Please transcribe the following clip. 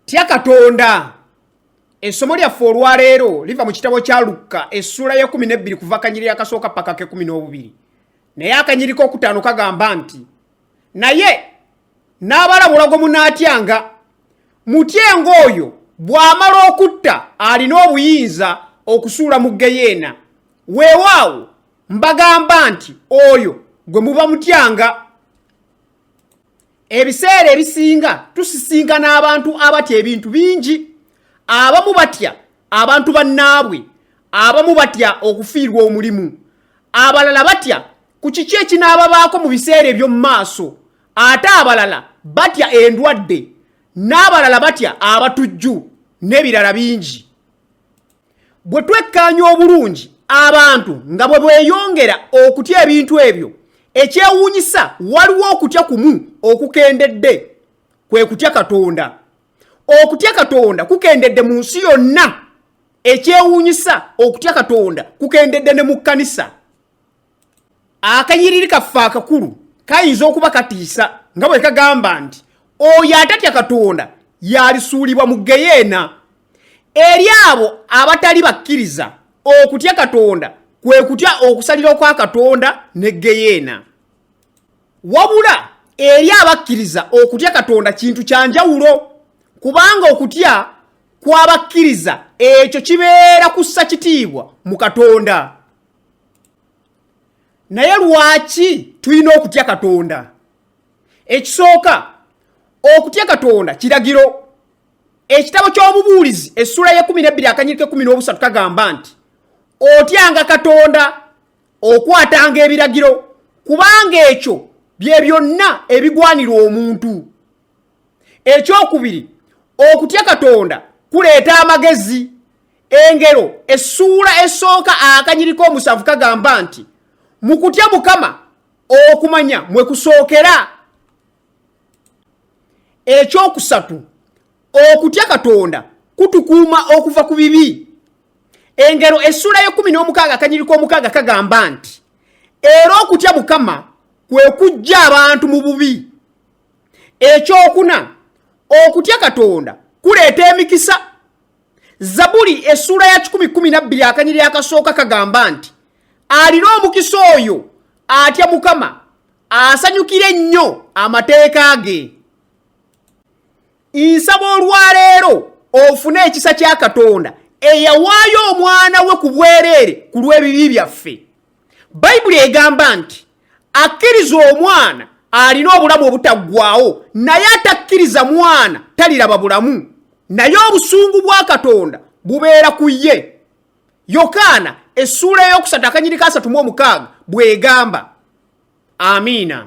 tya katonda essomo lyaffe olwaleero liva mu kitabo kya lukka essuula ya kumi nebbiri kuva akanyiriri akasooka paka ke kumi n'obubiri naye akanyiri k'okutaano kagamba nti naye n'abalabula gwe munaatyanga mutyenga oyo bw'amala okutta alina obuyinza okusuula mu geyeena weewaawo mbagamba nti oyo gwe muba mutyanga ebiseera ebisinga tusisinkana abantu abatya ebintu bingi abamu batya abantu bannaabwe abamu batya okufiirwa omulimu abalala batya ku kiki ekinaababaako mu biseera eby'omu maaso ate abalala batya endwadde n'abalala batya abatujju n'ebirala bingi bwe twekkaanya obulungi abantu nga bwe bweyongera okutya ebintu ebyo ekyewuunyisa waliwo okutya kumu okukendedde kwe kutya katonda okutya katonda kukendedde mu nsi yonna ekyewuunyisa okutya katonda kukendedde ne mu kkanisa akanyiriri kaffe akakulu kayinza okuba katiisa nga bwe kagamba nti oyo atatya katonda yalisuulibwa mu geyeena eri abo abatali bakkiriza okutya katonda kwe kutya okusalira kwa katonda ne geyeena wabula eri abakkiriza okutya katonda kintu kya njawulo kubanga okutya kw'abakkiriza ekyo kibeera kussa kitiibwa mu katonda naye lwaki tulina okutya katonda ekisooka okutya katonda kiragiro ekitabo ky'obubuulizi essula y'ekumi nebbiri akanyirika ekumi n'obusatu kagamba nti otyanga katonda okwatanga ebiragiro kubanga ekyo bye byonna ebigwanira omuntu ekyokubiri okutya katonda kuleeta amagezi engero essuula esooka akanyiriko omusanvu kagamba nti mu kutya mukama okumanya mwe kusookera ekyokusatu okutya katonda kutukuuma okuva ku bibi engero essuula y'ekumi n'omukaaga akanyiriko omukaaga kagamba nti era okutya mukama kwe kujja abantu mu bubi ekyokuna okutya katonda kuleeta emikisa zabuli essuula ya 112 akanyiri akasooka kagamba nti alina omukisa oyo atya mukama asanyukira ennyo amateeka ge nsaba olwaleero ofune ekisa kya katonda eyawaayo omwana we ku bwereere ku lw'ebibi byaffe bayibuli egamba nti akkiriza omwana alina obulamu obutaggwawo naye atakkiriza mwana taliraba bulamu naye obusungu bwa katonda bubeera ku ye yokaana essuula ey'okusatu akanyirika asatu mu omukaaga bw'egamba amiina